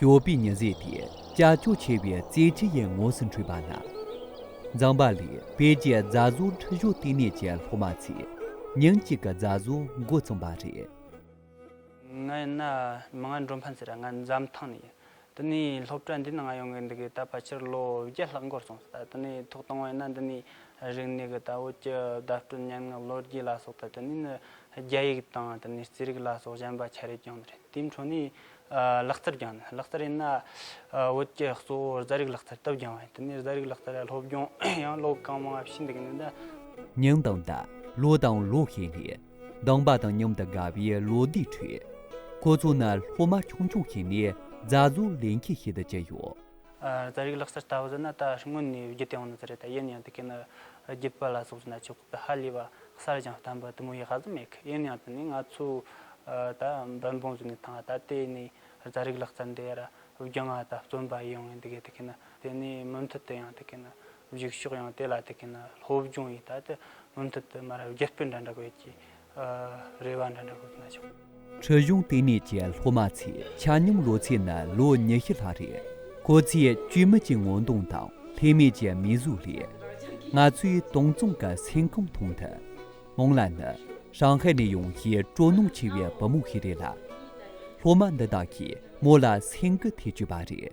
ཞོགས་པའི་ཉི་ཟེར་དེ་ཀྱག་ཀྱོག་ཆེ་བའི་རྩེད་ཆས་ཡི་ངོས་སུ་འཕྲོས་པ་ན། མཛངས་པ་ལི་པེ་ཀྱི་རྫ་བཟོ་འཁྲི་གཞོག་བསྟི་གནས་ཀྱི་སློབ་མ་ཚེ་ཉིན་གཅིག་གི་རྫ་བཟོ་མགོ་བཙུམས་པ་རེད། ངའི་ནང་མི་ང་འགྲོ་ཕན་ཟེར་ར་ང་འཛམ་ཐང་ནས་ཡིན། འདི་ནས་སློབ་གྲྭ་འདི་ན་ང་ཡོང་གི་འདུག་གི་ད་ཕལ་ཆེར་ལོ་བརྒྱད་ལྷག་འགོར་སོང་ཟེར་ད་དེ་ནས་ཐུགས་དང་བས་ན་འདི་ནས་རིག་གནས་ཀྱི་ད་བོད་ཀྱི་བརྡ་སྤྲོད་སྙན་ངག་ལོ་རྒྱུས་ལ་སོགས་ད་དེ་ནས་ནི་རྒྱ་ཡིག་དང་དེ་ནས་རྩིས་རིག་ལ་སོགས་གཞན་པ་ཆ་རེ་བསྐྱངས་ནི་རེད་དེའི་འཕྲོ་ནས་ལག་རྩལ་བསྐྱངས་ནི་ལག་རྩལ་ཡིན་ན་བོད་ཀྱི་གཙོ་བོ་རྫ་རིག་ལག་རྩལ་སྟབས་བསྐྱངས་བས་དེ་ནས་རྫ་རིག་ལག་རྩལ་ལ་སློབ་སྦྱོང་ཡང་ཀློག་གང་མང་བྱས་འདུག་གི་ནི་ད། སྙིང་དང་བརྡ་ལོ་དང་ལོ་ཧེ་ལེ། སྡང་བ་དང་མཉམ་དུ་དགའ་བའི་ལོ་ཟླའི་ཁྲོད། ཁོ་ཚོ་ནི་སློབ་མ་ཆུང་ཆུང་ཞིག་ནས་རྫ་བཟོ་ལས་མཁས་ཤིག་ཏུ་གྱུར་ཡོད། རྫ་རིགས་ལག་རྩལ་ལྟ་བུ་ཟེར་ན་ད་སྔོན་ནས་བརྒྱུད་དེ་འོང་ནི་ཙི་རེད་ད་ཡིན་ཡང་དེ་གའི་ནི་རྒྱུད་པ་ལ་སོགས་ཀྱི་ན་ཆོས་ཁོག་ཏུ་ཧ་ལས་པ་གསར་རྐྱང་བསྟན་པ་དུ་མ་ཡིས་ཧ་ཟོ་མེད་གི་ཡིན་ཡང་དེ་ནི་ང་ཚོས་ད་འབད་འབུངས་བཟོས་ནས་ཐང་ད་ལྟའི་ནི་རྫ་རིགས་ལག་རྩལ་འདི་ཡར་བརྒྱུད་ང་ད་བརྩོན་པ་ཡོང་ངེས་འདི་གའི་དེ་གའི་ནི་དེ་ནི་མུ་མཐུད་དུ་ཡང་དེ་གའི་ནི་འཇིག་ཤོག་ཡང་དེ་ལ་དེ་གིན་ན་སློབ་སྦྱོང་ཡིས་ད་དེ་མུ་མཐུད་དུ་མ་རབས་རྒྱུ་སྤུས་འདྲ་འདྲ་དགོས་ཀྱི། རེ་བ་འདྲ་འདྲ་དགོས་ཀྱི་ན་ཆོག། འཕྲོད་གཞུང་ལྟེ་གནས་ཀྱི་སློབ་མ་ཚོས་ཆ་སྙོམས་ལོ་ཚད་ནི་ལོ་ཉི་ཤུ་ལྷག་རེད། ཁོ་ཚོས་བཅོས་མིན་གྱི་ངོ་གདོང་དང་ལྷད་མེད་ཀྱི་མིག་ཟུང་ལས། ང་ཚོའི་དོང་ཙུང་གི་སེམས་ཁམས་མཐོང་ཐུབ། མོང་ལ་ནི་ཧྲང་ཧའེ་ནས་ཡོང་བའི་སྤྲོ་སྣང་ཆེ་བའི་བུ་མོ་ཞིག་རེད་ལ། སློབ་མ་འདི་དག་གིས་མོ་ལ་སེམས་འགུལ་ཐེབས་ཀྱི་པ་རེད།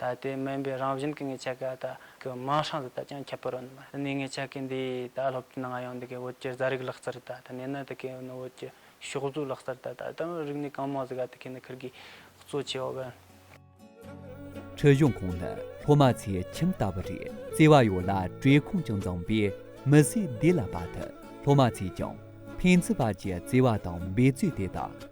ད་ལྟའི་སྨན་པའི་རང་བཞིན་གྱི་ངའི་ཆ་ག་ད་གི་དམག་ཧྲང་དེ་དག་ཀྱང་ཁྱད་པར་ཨེ་འདུག་གནས་ངའི་ཆ་ག་འདིས་ད་སློབ་གྲྭའི་ནང་ཡང་འདི་གའི་བོད་ཀྱི་རྫ་རིགས་ལག་རྩལ་ད་ད་གནས་ན་ད་གའི་ནི་བོད་ཀྱི་ཕྱོགས་བཟོའི་ལག་རྩལ་ད་ད་ད་ནི་རིག་གནས་གང་མང་ཟིག་ག་ད་གའི་ནི་ཁིར་གི་གཙོ་ཆེ་བ་བན། འཕྲོད་གཞུང་ཁོང་ནི་སློབ་མ་ཚའི་ཁྱིམ་ལྟ་བུ་རེད་བརྩེ་བ་ཡོད་ལ་བཀྲེས་སྐོམ་ཀྱང་བཟང་བས་མི་ཟས་བདེ་ལ་བ་དུ་སློབ་མ་ཚས་ཀྱང་ཕན་ཚུན་བར་གྱི་བརྩེ་བ་དང་འབད་རྩོད་དེ་དག་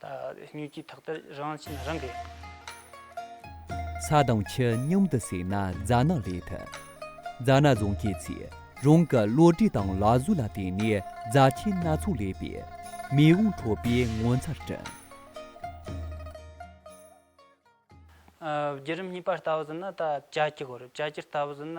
ད་སྨྱོས་ཀྱི་ཐག་ལྟར་རང་བྱིན་རང་གིས། ས་དང་ཆུ་སྙོམས་དུ་བསྲེས་ན་རྫ་ནག་ལས་ཐུབ། རྫ་ནག་བཟོ་མཁན་ཚོས་རང་གི་བློ་གྲོས་དང་ལག་བཟོ་ལ་བརྟེན་ནས་རྫ་ཆས་སྣ་ཚོགས་ལས་པས་མེས་དབོན་ཁྲོ་པའི་ངོ་མཚར་བསྐྲུན། བརྒྱུད་རིམ་གཉིས་པར་ལྟ་བ་བཟོས་ན་ད་བྱ་ཁྱི་གོ་རེད་བྱ་ཁྱིར་ལྟ་བ་བཟོས་ན།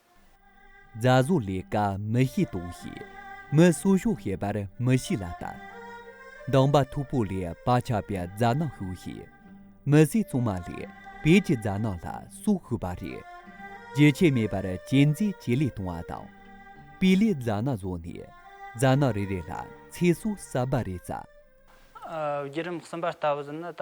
རྫ་བཟོ་ལས་ཀ་མི་ཤེས་དོགས་ཤིག། མི་གསོ་ཤོག་ཤེས་པར་མི་ཤེས་ལ་ལྟ། མདང་པ་ཐུག་པོ་ལས་པ་ཆགས་པའི་རྫ་ནག་ཤོག་ཤིག། མི་བཟས་བཙོང་མ་ལས་བེད་ཀྱི་རྫ་ནག་ལ་སོགས་ཤོད་པ་རེད། རྒྱུ་ཆས་མེད་པར་གྱེན་རྩིས་ཇེ་ལེགས་གཏོང་བ་དང། སྤུས་ལེགས་རྫ་ནག་བཟོ་ནས་རྫ་ནག་རེ་རེ་ལ་ཚེ་སྲོག་གསར་པ་རེ་བསྩལ། བརྒྱུད་རིམ་གསུམ་པ་ལྟ་བུ་ཟིན་ན་ད།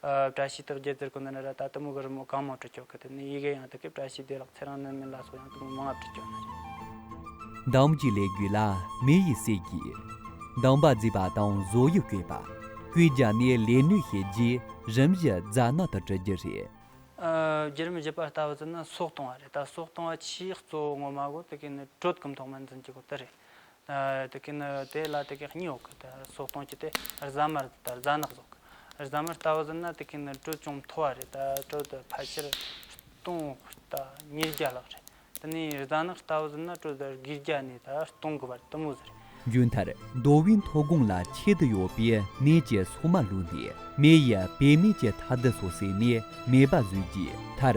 བཀྲ་ཤིས་དག་རྒྱལ་རྩེར་ཀུན་ན་རེ་ར་ད་ལྟ་མོ་གི་རི་མོ་གང་མང་བྲི་བཅོག་གི་འདུག་ནས་ཡི་གེ་ཡང་དག་གི་བཀྲ་ཤིས་བདེ་ལགས་ཚེ་རང་སྣོད་མིན་ལ་སོགས་ཡང་དག་མོ་མང་ང་བྲི་བཅོག་ན་རེ། འདམ་གྱི་ལས་གུད་ལ་མེ་ཡིས་བསྲེགས་ཀྱིས། འདམ་པ་བརྫིས་པ་དང་བཟོ་ཡི་བསྐོས་པ། ཀུན་རྒྱ་ནི་ལས་ནུས་ཤེས་རྗེས་རིམ་བཞི་རྫ་སྣ་དག་བྲི་རྒྱུ་རེད། བརྒྱུད་རིམ་བཞི་པ་ལྟ་བུ་བརྩི་ན་སྲོག་གཏོང་བ་རེད་ད་སྲོག་གཏོང་བ་ཆེས་གཙོ་བོ་ངོ་མ་གོ་དེ་གས་ནི་དྲོད་སྐམ་ཐོག་མར་འཛིན་གྱི་གོ་བསྟི་རེད། དེ་ཀའི་ནི་དེ་ལ་དེ་ཀའི་སྙིང་འོག་གི་སོགས་སྟོང་གཅིག་སྟེ་རྫ་མར་དང་རྫ་ནག་སོགས་ཀྱི་རྫ་མར་ལྟ་བུ་ཟིན་ན་དེ་ཀའི་ནི་དྲོད་ཅུང་མཐོ་བ་རེད་དྲོད་དེ་ཕལ་ཆེར་སྟོང་ཉིས་བརྒྱ་ལྷག་རེད་དེ་ནས་རྫ་ནག་ལྟ་བུ་ཟིན་ན་དྲོད་དེ་དགུས་བརྒྱ་ནས་སྟོང་དགུ་བར་དུ་མོ་ཟེར། རྒྱུན་ལྟར་མདོ་དབུས་མཐོ་སྒང་ལ་ཆེད་དུ་ཡོད་པའི་ནས་ཀྱི་སོག་མ་བླུགས་ནས་མེ་ཡི་བེད་མེད་ཀྱི་མཐར་འདི་སོགས་བསྲེགས་ནས་མེ་སྦར་བཟོས་རྗེས་མཐར་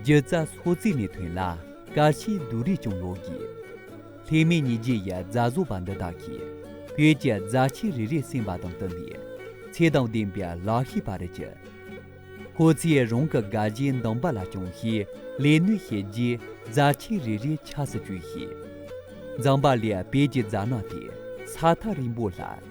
སྒྱུ་རྩལ་སོགས་བརྩིས་ནས་ཐོན་ལ་དཀར་ཆའི་སྡུག་རུས་ཀྱང་ལོག་གི། ལྷད་མེད་ཉིས་བརྒྱའི་ཡ་མཛའ་བཟོ་བ་འདི་དག་གིས་བོད་ཀྱི་རྫ་ཆས་རེ་རེ་གསན་པ་དང་བསྟུན་པའི་ཚེ་དང་ལྡན་པའི་ལག་ཤེས་པ་རེད་ཀྱི། ཁོ་ཚོས་རང་གི་དགའ་བཞིའི་འདམ་པ་ལ་ཅུང་ཞིག་ལས་སྣོན་བྱས་རྗེས་རྫ་ཆས་རེ་རེ་ཆགས་སུ་བཅུག་ཤིང། འཛམ་བག་ལས་བོད་ཀྱི་རྫ་ནག་དེ་ས་ཐག་རིང་པོ་ལ།